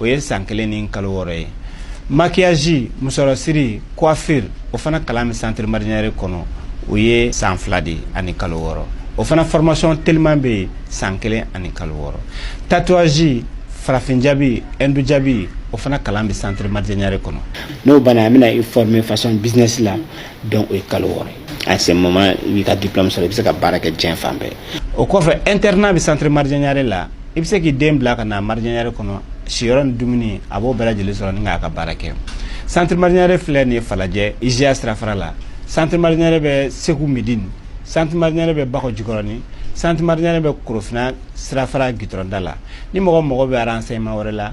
o ye san kelen ni kalo wɔɔrɔ ye maquillage musɔrɔsiri coiffure o fana kalan bɛ centre marijɛ ɲare kɔnɔ o ye san fila de ani kalo wɔɔrɔ o fana formation teliman bɛ yen san kelen ani kalo wɔɔrɔ tatouage farafin jabi hindu jabi o fana kalan bɛ centre marijɛ ɲare kɔnɔ n'o banna an bɛna i former façon business la donc o ye kalo wɔɔrɔ ye à ce moment i b'i ka diplôme sɔrɔ i bɛ se ka baara kɛ diɲɛ fan bɛɛ o kɔfɛ internat bɛ centre marijɛ ɲare la i bɛ se k'i den bila ka na marijɛ ɲare kɔnɔ siyɔrɔ ni dumuni a b'o bɛɛ lajɛlen sɔrɔ ni k'a ka baara kɛ centre marijɛ ɲare filɛ nin ye falajɛ IJA sirafara la centre marijɛ ɲare bɛ segu medini centre marijɛ ɲare bɛ bakɔ jikɔrɔni centre marijɛ ɲare bɛ korofina sirafara gitɔrɔnda la ni mɔgɔ mago bɛ renseignement wɛrɛ la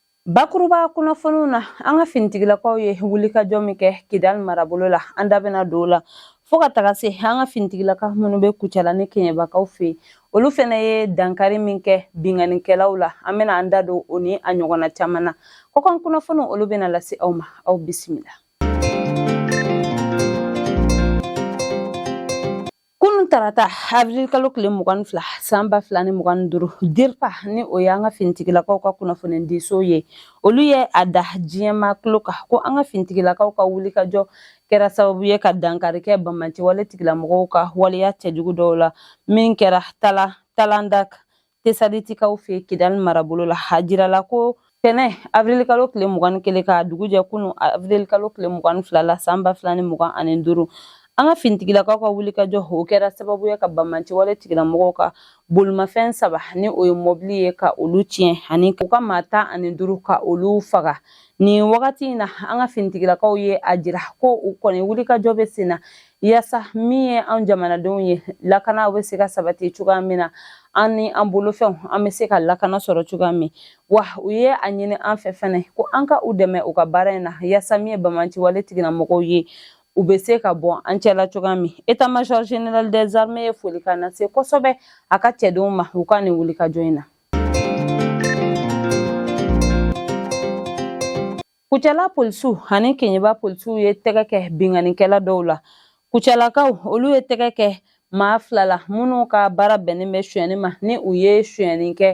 Bakuruba kunnafoniw na an ka finitigilakaw ye wulikajɔ min kɛ Kidali marabolo la an da bɛna don o la fo ka taga se an ka finitigilaka minnu bɛ Kucala ni Keɲɛbakaw fɛ olu fana ye dankari min kɛ binkannikɛlaw la an bɛna an da don o ni a ɲɔgɔnna caman na kɔkan kunnafoniw olu bɛna lase aw ma aw bisimila. Kunun tarata avril kalo tile mugan ni fila san ba fila ni mugan ni duuru DIRPA ni o y'an ka finitigilakaw ka kunnafonidiso ye olu ye a da diɲɛmaa tulo kan ko an ka finitigilakaw ka wulikajɔ kɛra sababu ye ka dankari kɛ banbaanciwale tigilamɔgɔw ka waleya cɛjugu dɔw la min kɛra Talandak Tesalitikaw fɛ Kidali marabolo la, a jirala ko tɛnɛ avril kalo tile mugan ni kelen ka dugu jɛ kunun avril kalo tile mugan ni fila la san ba fila ni mugan ani duuru an ka finitigilakaw ka wulikajɔ o kɛra sababu ye ka banbaanciwale tigilamɔgɔw ka bolimafɛn saba ni o ye mɔbili ye ka olu tiɲɛ ani u ka maa tan ani duuru ka olu faga nin wagati in na an ka finitigilakaw ye a jira ko u kɔni wulikajɔ bɛ sen na yasa min ye an jamanadenw ye lakana bɛ se ka sabati cogoya min na an ni an bolofɛnw an bɛ se ka lakana sɔrɔ cogoya min wa u ye a ɲini an fɛ fɛnɛ ko an ka u dɛmɛ u ka baara in na yasa min ye banbaanciwale tigilamɔgɔw ye u bɛ se ka bɔ an cɛla cogoya min état major général des armées ye folikan lase kosɛbɛ a ka cɛdenw ma u ka nin wulikajɔ in na Kucala polisiw ani keɲeba polisiw ye tɛgɛ kɛ binkannikɛla dɔw la kucalakaw olu ye tɛgɛ kɛ maa fila la minnu ka baara bɛnnen bɛ sonyɛni ma ni u ye sonyɛni kɛ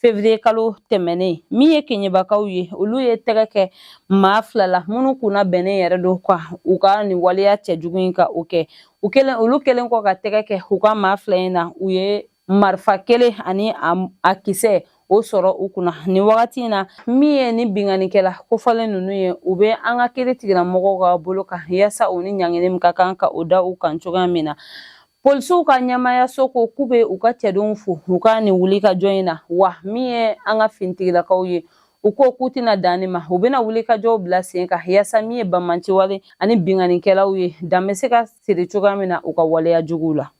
fevriye kalo tɛmɛnen min ye keɲebakaw ye olu ye tɛgɛ kɛ maa fila la minnu kunna bɛnnen yɛrɛ don ka u ka nin waleya cɛjugu in ka o kɛ olu kɛlen kɔ ka tɛgɛ kɛ u ka maa fila in na u ye marifa kelen ani a kisɛ o sɔrɔ u kunna nin wagati in na min ye ni binkanikɛla kofɔlen ninnu ye u bɛ an ka kiri tigilamɔgɔw ka bolo kan yaasa u ni ɲangini min ka kan ka o da u kan cogoya min na polisiw ka ɲɛmaayaso ko k'u bɛ u ka cɛdenw fo u ka nin wuli ka jɔ in na wa min ye an ka finitigilakaw ye u ko k'u tɛna dan nin ma u bɛna wuli ka jɔw bila sen kan yaasa min ye banbaanciwale ani binkanikɛlaw ye dan bɛ se ka siri cogoya min na u ka waleya juguw la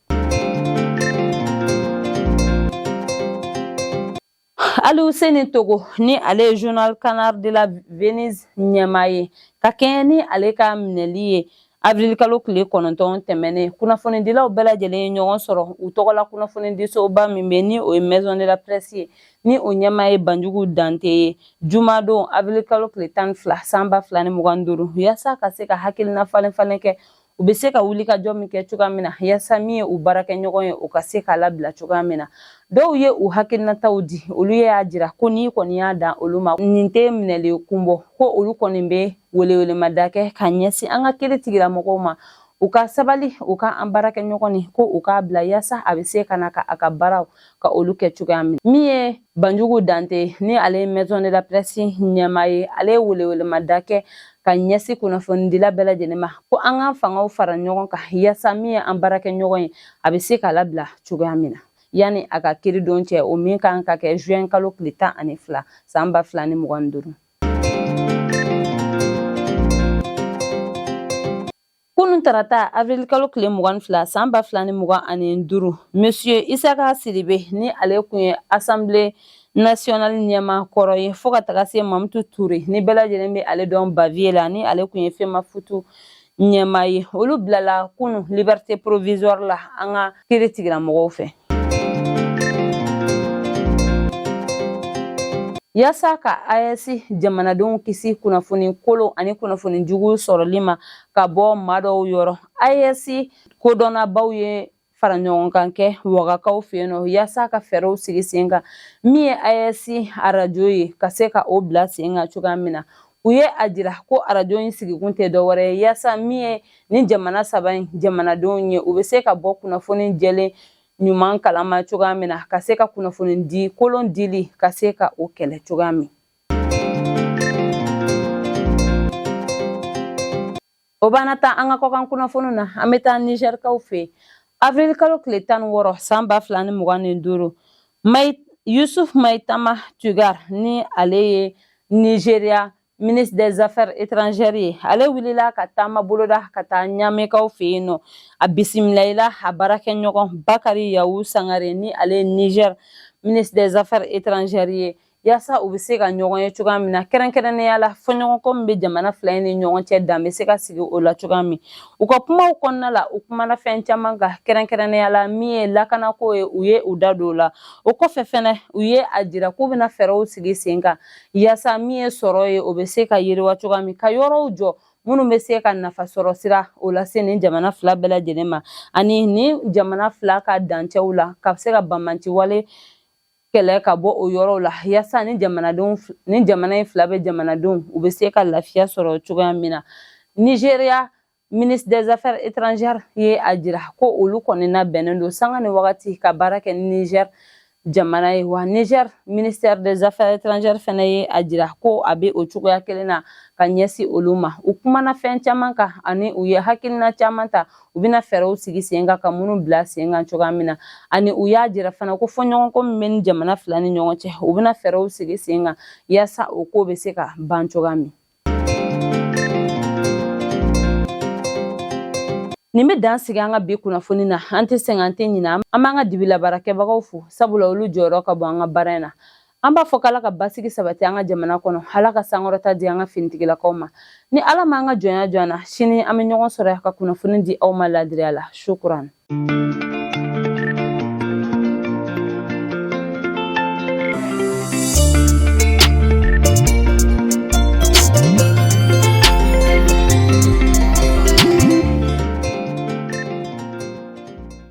Aluseni Togo ni ale ye journal Canard de la Venise ɲɛmaa ye ka kɛɲɛ ni ale ka minɛli ye avril kalo kile kɔnɔntɔn tɛmɛnen kunnafonidilaw bɛɛ lajɛlen ye ɲɔgɔn sɔrɔ u tɔgɔ la kunnafonidisoba min bɛ ni o ye maison de la presse ye ni o ɲɛmaa ye banjugu dante ye jumadon avril kalo kile tan fila san ba fila ni mugan duuru yaasa ka se ka hakilina falenfalen kɛ U bɛ se ka wuli ka jɔ min kɛ cogoya min na yasa min ye u baarakɛɲɔgɔn ye u ka se k'a labila cogoya min na dɔw ye u hakilinataw di olu y'a jira ko n'i kɔni y'a dan olu ma nin tɛ minɛli kun bɔ ko olu kɔni bɛ welewelemada kɛ ka ɲɛsin an ka kiri tigilamɔgɔw ma u ka sabali u ka an baarakɛɲɔgɔn nin ko u k'a bila yasa a bɛ se ka na ka a ka baaraw ka olu kɛ cogoya min min ye banjugu dante ni ale ye maison de la presse ɲɛmaa ye ale ye welewelemada kɛ ka ɲɛsin kunnafonidila bɛɛ lajɛlen ma ko an ka fangaw fara ɲɔgɔn kan yaasa min ye an baarakɛɲɔgɔn ye a bɛ se ka labila cogoya min na yanni a ka kiridon cɛ o min kan ka kɛ juin kalo tile tan ani fila san ba fila ni mugan ni duuru Kunun tarata avril kalo tile mugan fila san ba fila ni mugan ani duuru monsieur Isaka Sidibe ni ale kun ye assemblée nationale ɲɛmaa kɔrɔ ye fo ka taga se Mamutu Ture ni bɛɛ lajɛlen bɛ ale dɔn Bavieux la ni ale kun ye FEMAFOOT ɲɛmaa ye olu bilala kunun liberté provisoire la an ka kiri tigilamɔgɔw fɛ Yasa ka AES jamanadenw kisi kunnafoni kolon ani kunnafoni jugu sɔrɔli ma ka bɔ maa dɔw yɔrɔ AES kodɔnnabaw ye faraɲɔgɔnkan kɛ wagakaw fɛ yen nɔ yaasa ka fɛɛrɛw sigi sen kan min ye AES arajo ye ka se ka o bila sen kan cogoya min na u ye a jira ko arajo in sigikun tɛ dɔwɛrɛ ye yaasa min ye nin jamana saba in jamanadenw ye u bɛ se ka bɔ kunnafoni jɛlen ɲuman kalama cogoya min na ka se ka kunnafoni di kolon dili ka se ka o kɛlɛ cogoya min O b'an nataa an ka kɔkan kunnafoni na an bɛ taa nizɛrikaw fɛ yen avril kalo tile tan ni wɔɔrɔ san ba fila ni mugan ni duuru yusuf maitama tuggar ni ale ye nizeriya ministre des affaires étrangères ye ale wulila ka taama boloda ka taa ɲamɛkaw fɛ yen nɔ a bisimilayila a baarakɛɲɔgɔn bakari yawu sangare ni ale ye nizɛri ministre des affaires étrangères ye yaasa u bɛ se ka ɲɔgɔn ye cogoya min na kɛrɛnkɛrɛnnenya la fɔɲɔgɔnkɔ min bɛ jamana fila in ni ɲɔgɔn cɛ dan bɛ se ka sigi o la cogoya min u ka kumaw kɔnɔna la u kumana fɛn caman kan kɛrɛnkɛrɛnnenya la min ye lakanako ye u ye u da don o la o kɔfɛ fɛnɛ u ye a jira k'u bɛna fɛɛrɛw sigi sen kan yaasa min ye sɔrɔ ye o bɛ se ka yiriwa cogoya min ka yɔrɔw jɔ minnu bɛ se ka nafasɔrɔsiraw lase nin jamana fila bɛɛ lajɛlen ma ani nin jamana fila ka dancɛw la ka se ka banbaanciwale kɛlɛ ka bɔ o yɔrɔw la yaasa ni jamanadenw ni jamana in fila bɛɛ jamanadenw u bɛ se ka lafiya sɔrɔ cogoya min na nizeriya ministre des affaires étrangères ye a jira ko olu kɔni labɛnnen don sanga ni wagati ka baara kɛ ni niger jamana ye wa niger ministre des affaires étrangères fɛnɛ ye a jira ko a bɛ o cogoya kelen na ka ɲɛsin olu ma u kumana fɛn caman kan ani u ye hakilina caman ta u bɛna fɛɛrɛw sigi sen kan ka minnu bila sen kan cogoya min na ani u y'a jira fana ko fɔɲɔgɔnkɔ min bɛ ni jamana fila ni ɲɔgɔn cɛ u bɛna fɛɛrɛw sigi sen kan yaasa o ko bɛ se ka ban cogoya min nin bɛ dan sigi an ka bi kunnafoni na an tɛ sɛgɛn an tɛ ɲinɛ an b'an ka dibilabaarakɛbagaw fo sabula olu jɔyɔrɔ ka bon an ka baara in na an b'a fɔ k'ala ka basigi sabati an ka jamana kɔnɔ ala ka sankɔrɔta di an ka finitigilakaw ma ni ala m'an ka jɔnya jɔ an na sini an bɛ ɲɔgɔn sɔrɔ yan ka kunnafoni di aw ma ladiriya la sukuran